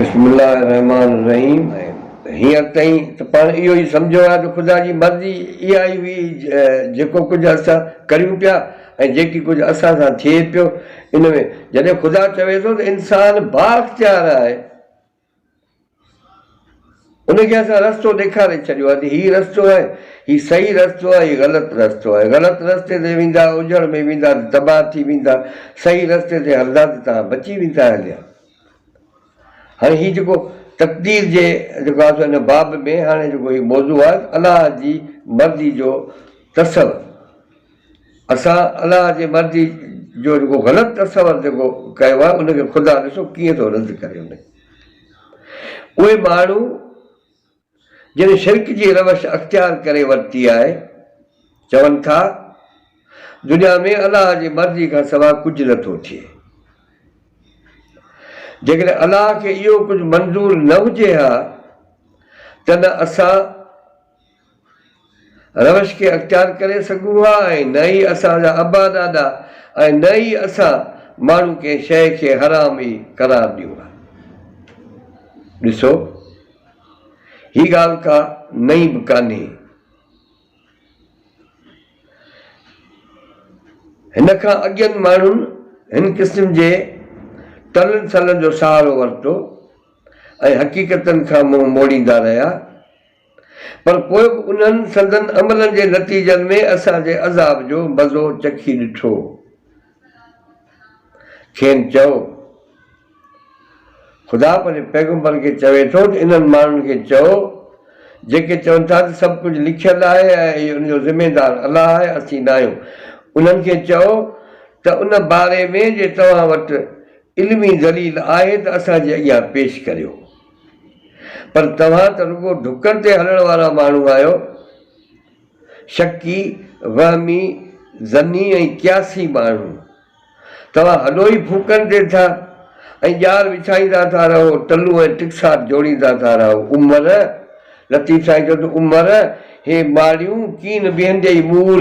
بسم الله الرحمٰن الرحيم هينئر تائين ته پاڻ اهو ئي سمجهيو آهي ته خدا جي مرضي اها ئي هئي جيڪو ڪجهه اسان ڪريون پيا ۽ جيڪي ڪجهه اسان سان ٿئي پيو ان ۾ جڏهن خدا چوي ٿو ته انسان بااختيار آهي ان کي اسان رستو ڏيکاري ڇڏيو آهي ته هي رستو آهي، هي صحيح رستو آهي، هي غلط رستو آهي. غلط رستي تي ويندا، اجهڙ ۾ ويندا ته تباهه ٿي ويندا، صحيح رستي تي هلندا ته توهان بچي ويندا هليا. هاڻي هي جيڪو تقدير جي جيڪو آهي سو ان باب ۾ هاڻي جيڪو هي موضوع آهي ته الله جي مرضي جو تصور. اسان الله جي مرضي جو جيڪو غلط تصور جيڪو ڪيو آهي ان کي خدا ڏسو ڪيئن ٿو رد ڪري ان اهي ماڻهو جن شرڪ جي روش اختيار ڪري ورتي آهي چون ٿا دنيا ۾ الله جي مرضي کان سوا ڪجهه نه ٿو ٿئي جيڪڏهن الله کي اهو ڪجهه منظور نه هجي ها ته نه اسان روش کي اختيار ڪري سگهون ها ۽ نه ئي اسان جا ابا ڏاڏا ۽ نه ئي اسان ماڻهو ڪنهن شيء کي حرام ئي قرار ڏيون ها. ڏسو هي ڳالهه ڪا نئين به ڪانهي. هن کان اڳين ماڻهن هن قسم جي ٽلن سلن جو سهارو ورتو ۽ حقيقتن کان منهن موڙيندا رهيا. پر پوء به انهن سندن عملن جي نتيجن ۾ اسان جي عذاب جو مزو چکي ڏٺو. کين چئو، خدا پنهنجي پيغمبرن کي چوي ٿو ته انهن ماڻهن کي چئو، جيڪي چون ٿا ته سڀ ڪجهه لکيل آهي ۽ ان جو ذميوار الله آهي، اسين ناهيون. انهن کي چئو ته ان باري ۾ جي توهان وٽ علمي دليل آهي ته اسان جي اڳيان پيش ڪريو. پر توهان ته رڳو ڍڪن تي هلڻ وارا ماڻهو آهيو. شڪي، وهمي، ظني ۽ قياسي ماڻهو. توهان هڏو ئي ڦوڪن ڏين ٿا ۽ ڄار وڇائيندا ٿا رهو، ٽلون ۽ ٽڪسار جوڙيندا ٿا رهو. عمر! لطيف سائين چيو ته عمر! هي ماڙيون ڪين بيهندي ئي مور.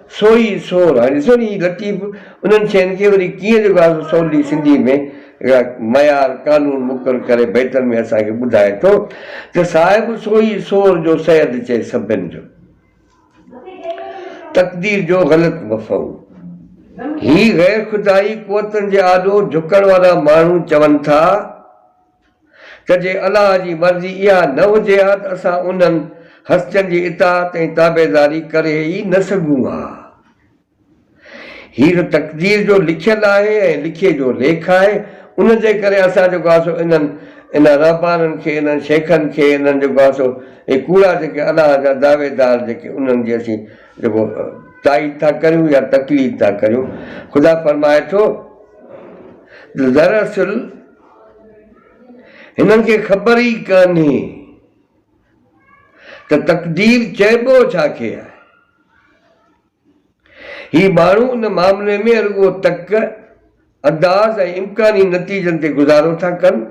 سو ئي سور آهن. ڏسو ني هي لطيف انهن شين کي وري ڪيئن جيڪو آهي سو سولي سنڌي ۾ هڪڙا معيار قانون مقرر ڪري بيتن ۾ اسان کي ٻڌائي ٿو ته صاحب سو ئي سور جو سيد چئي سڀن جو تقدير جو غلط مفهوم هي غير خدائي قوتن جي آڏو جهڪڻ وارا ماڻهو چون ٿا. ته جي الله جي مرضي اها نه هجي ها ته اسان انهن، هستين، جي اطاعت ۽ تابعداري ڪري ئي نه سگهون ها. هي ته تقدير جو لکيل آهي ۽ لکي جو ليک آهي، ان جي ڪري اسان جيڪو آهي سو انهن، انهن رهبانن کي، انهن شيخن کي، انهن جيڪو آهي سو اهي ڪوڙا جيڪي الله جا دعويدار جيڪي انهن جي اسين جيڪو تائيد ٿا ڪريون يا تقليد ٿا ڪريون، خدا فرمائي ٿو ته دراصل، هنن کي خبر ئي ڪانهي ته تقدير چئبو ڇا کي آهي. هي ماڻهو ان معاملي ۾ رڳو تڪ، انداز ۽ امڪاني نتيجن تي گذارو ٿا ڪن،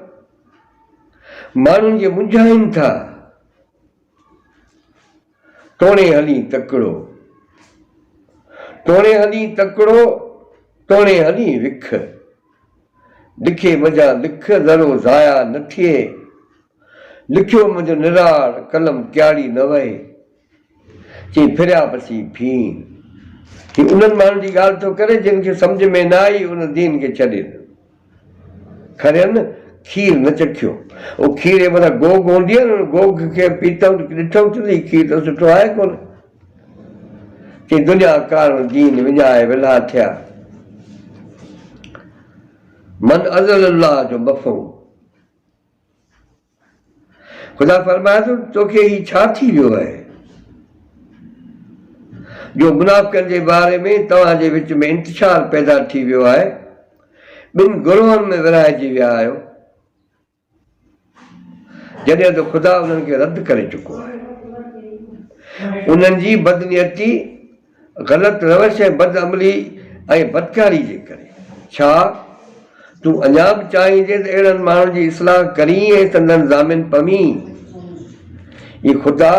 ماڻهن کي منجهائين ٿا. توڻي هلين تڪڙو، توڻي هلين تڪڙو، توڻي هلين وک. لکي منجهان لک ذرو ضايع نه ٿئي، لکيو منجهه نراڙ قلم ڪياڙي نه وهي. چئي ڦريا پسي ڦين. هي انهن ماڻهن جي ڳالهه ٿو ڪري جن کي سمجهه ۾ نه آئي ان دين کي ڇڏي ڏنو. کرين کير نه چکيو. او کيري مٿان گوگ هوندي آهي نه، گوگ کي پيتم ته ڏٺم ته هي کير ته سٺو آهي ڪونه. چيائين دنيا ڪارڻ دين وڃائي ولها ٿيا. من اضل الله جو مفهوم. خدا فرمايو ته توکي هي ڇا ٿي ويو آهي جو منافقن جي باري ۾ توهان جي وچ ۾ انتشار پيدا ٿي ويو آهي، ٻن گروهن ۾ ورهائجي ويا آهيو، جڏهن ته خدا انهن کي رد ڪري چڪو آهي. انهن جي بدنيتي. غلط روش ۽ بد عملي ۽ بدڪاري جي ڪري. ڇا تون اڃا به چاهين ٿي ته اهڙن ماڻهن جي اصلاح ڪرين ۽ سندن ضامن پوين؟ اي خدا!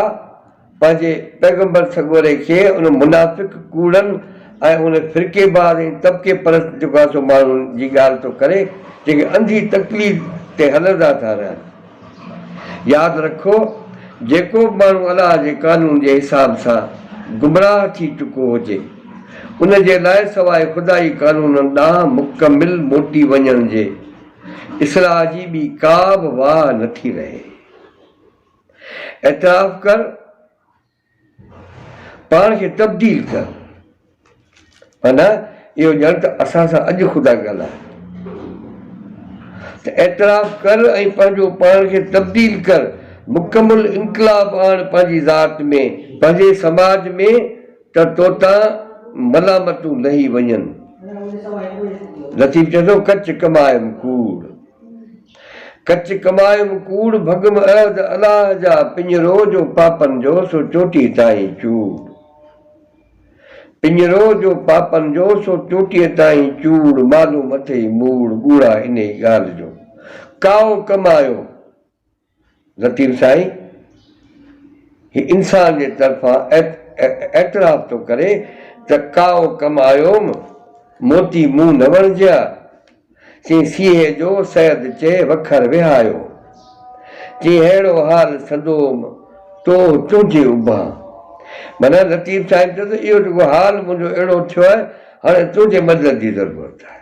پنهنجي پيغمبر سڳوري کي ان منافق، ڪوڙن ۽ ان فرقي باز ۽ طبقي پرست جيڪو آسو ماڻهن جي ڳالهه ٿو ڪري، جيڪي انڌي تقليد تي هلندا ٿا رهن. ياد رکو، جيڪو به ماڻهو الله جي قانون جي حساب سان گمراهه ٿي چڪو هجي، ان جي لاء سواء خدائي قانونن ڏانهن مڪمل موٽي وڃڻ جي، اصلاح جي ٻي ڪا به واهه نٿي رهي. اعتراف ڪر! پاڻ کي تبديل ٿيڻ معنيٰ اهو ڄڻ ته اسان سان اڄ خدا ڳالهائي ته اعتراف ڪر ۽ پنهنجو پاڻ کي تبديل ڪر مڪمل انقلاب آڻ پنهنجي ذات ۾ پنهنجي سماج ۾ ته توتان ملامتون لهي وڃن. لطيف چوي ٿو ڪچ ڪمائم ڪوڙ. ڪچ ڪٻايم ڪوڙ ڀڳم عهد الاه جا پڃرو جو پاپن جو سو چوٽي تائين چوڙ پڃرو جو پاپن جو سو چوٽيء تائين چوڙ مالو مٿي ئي موڙ ٻوڙا انهي ڳالهه جو ڪائو ڪمايو لطيف سائين هي انسان جي طرفان اعتراف ٿو ڪري ته ڪائو ڪم آيوم موتي مون نه وڻجيا چين سيهي جو سيد چي وکر وهايو چين ههڙو حال سندوم توه تنهنجي اڀان معنيٰ لطيف سائين چيو ته اهو جيڪو حال منهنجو اهڙو ٿيو آهي هاڻي تنهنجي مدد جي ضرورت آهي.